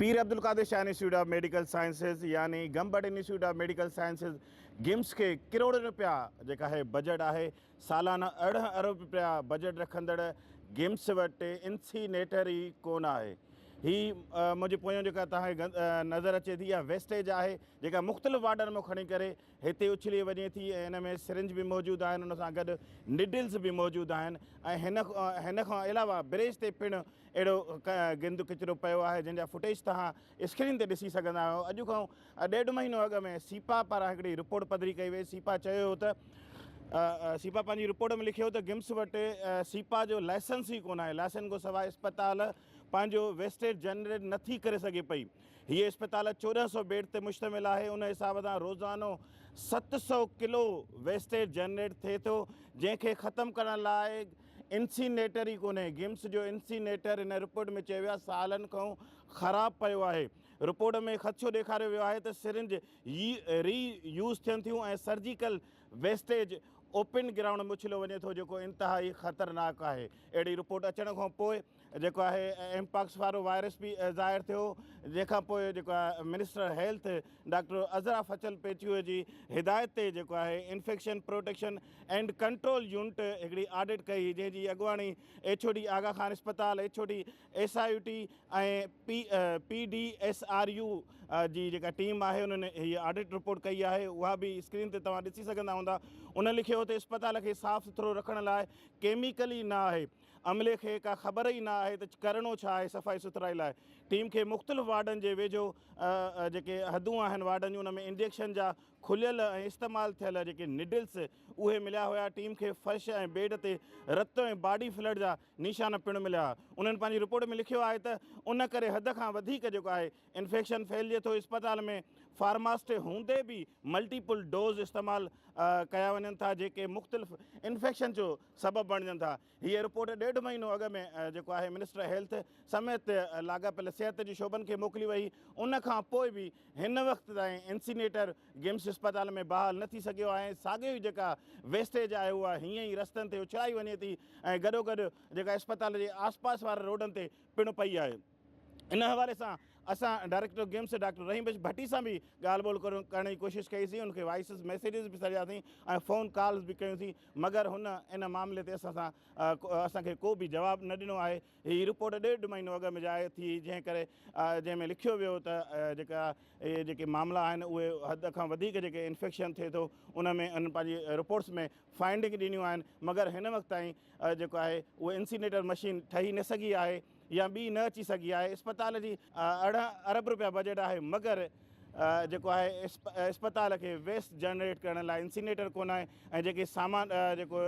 Pir Abdul Qadir Shah institute of medical sciences يعني Gambat institute of medical sciences GIMS کي ڪروڙين رپيا جيڪا هي بجيٽ آهي سالانه ارڙهن ارب رپيا بجيٽ رکندڙ گمس وٽ انسي نيٽر ئي ڪونه آهي هي منهنجي پويان جيڪا توهان کي نظر اچي ٿي اها ويسٽيج آهي جيڪا مختلف وارڊن مان کڻي ڪري هتي اڇلي وڃي ٿي ۽ ان ۾ سرنج به موجود آهن ان سان گڏ نڊلز به موجود آهن ۽ هن کان علاوه بريج تي پڻ اهڙو گند ڪچرو پيو آهي جنهن جا فوٽيج توهان اسڪرين تي ڏسي سگهندا آهيو اڄ کان ڏيڍ مهينو اڳ ۾ سيپا پاران هڪڙي رپورٽ پڌري ڪئي وئي سيپا چيو هو ته سيپا پنهنجي رپورٽ ۾ لکيو ته گمس وٽ سيپا جو لائسنس ئي ڪونه آهي لائسنس کان سواء اسپتال پنهنجو ويسٽيج جنريٽ نه ٿي ڪري سگهي پئي. هيء اسپتال چوڏهن سؤ بيڊ تي مشتمل آهي، ان حساب سان روزانو ست سؤ ڪلو ويسٽيج جنريٽ ٿئي ٿو، جنهن کي ختم ڪرڻ لاء انسينيٽر ئي ڪونهي، گمس جو انسينيٽر هن رپورٽ ۾ چيو ويو آهي سالن کانئون خراب پيو آهي، رپورٽ ۾ خدشو ڏيکاريو ويو آهي ته سرنج ري يوز ٿين ٿيون ۽ سرجيڪل ويسٽيج اوپن گرائونڊ ۾ اڇليو وڃي ٿو جيڪو انتهائي خطرناڪ آهي اهڙي رپورٽ اچڻ کان پوء جيڪو آهي ايم پاڪس وارو وائرس به ظاهر ٿيو جنهن کان پوء جيڪو آهي minister health doctor Azra Fazal Pechuho جي هدايت تي جيڪو آهي infection protection and control unit هڪڙي آڊٽ ڪئي جنهن جي اڳواڻي ايڇوڊي آغا خان اسپتال HOD S I U T ۽ P D S R U جي جيڪا ٽيم آهي انهن هي آڊٽ رپورٽ ڪئي آهي اها به اسڪرين تي توهان ڏسي سگهندا هوندا انهن لکيو هو ته اسپتال کي صاف سٿرو رکڻ لاء ڪيميڪل ئي نه آهي عملي کي ڪا خبر ئي نه آهي ته ڪرڻو ڇا آهي صفائي سٿرائي لاء ٽيم کي مختلف وارڊن جي ويجهو جيڪي حدون آهن وارڊن جون ان ۾ انجيڪشن جا کليل ۽ استعمال ٿيل جيڪي نڊلس اهي مليا هيا ٽيم کي فرش ۽ بيڊ تي رت ۽ باڊي فلڊ جا نشان پڻ مليا آهي انهن پنهنجي رپورٽ ۾ لکيو آهي ته ان ڪري حد کان وڌيڪ جيڪو آهي انفيڪشن ڦهلجي ٿو اسپتال ۾ فارماسٽ هوندي به ملٽيپل ڊوز استعمال ڪيا وڃن ٿا جيڪي مختلف انفيڪشن جو سبب بڻجن ٿا هيء رپورٽ ڏيڍ مهينو اڳ ۾ جيڪو آهي منسٽر هيلٿ سميت لاڳاپيل صحت جي شعبن کي موڪلي وئي هئي ان کان پوء به هن وقت تائين انسينيٽر گيمس اسپتال ۾ بحال نه ٿي سگهيو آهي ۽ ساڳيو ئي جيڪا ويسٽيج آهي اها هيئن ئي رستن تي اڇلائي وڃي ٿي ۽ گڏوگڏ جيڪا اسپتال جي آس پاس وارن روڊن تي پڻ پئي آهي ان حوالي سان اسان director GIMS doctor Rahim Bakhsh Bhatti سان به ڳالهه ٻولهه ڪرڻ جي ڪوشش ڪئي سين ان کي وائسز ميسيجز به سرياسين ۽ فون ڪالز به ڪيون سين مگر هن ان معاملي تي اسان سان اسان کي ڪو به جواب نه ڏنو آهي هي رپورٽ ڏيڍ مهينو اڳ ۾ ظاهر ٿي هئي جنهن ڪري جنهن ۾ لکيو ويو ته جيڪا اهي جيڪي معاملا آهن اهي حد کان وڌيڪ جيڪي انفيڪشن ٿئي ٿو ان ۾ ان پنهنجي رپورٽس ۾ فائنڊنگ ڏنيون آهن مگر هن وقت تائين جيڪو آهي اهو انسينيٽر مشين ٺهي نه سگهي آهي يا ٻي نه اچي سگهي آهي اسپتال جي ارڙهن ارب روپيا بجيٽ آهي مگر جيڪو آهي اسپتال کي ويسٽ جنريٽ ڪرڻ لاء انسينيٽر ڪونه آهي ۽ جيڪي سامان جيڪو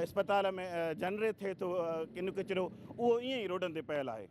اسپتال ۾ جنريٽ ٿئي ٿو ڪن ڪچرو اهو ائين ئي روڊن تي پيل آهي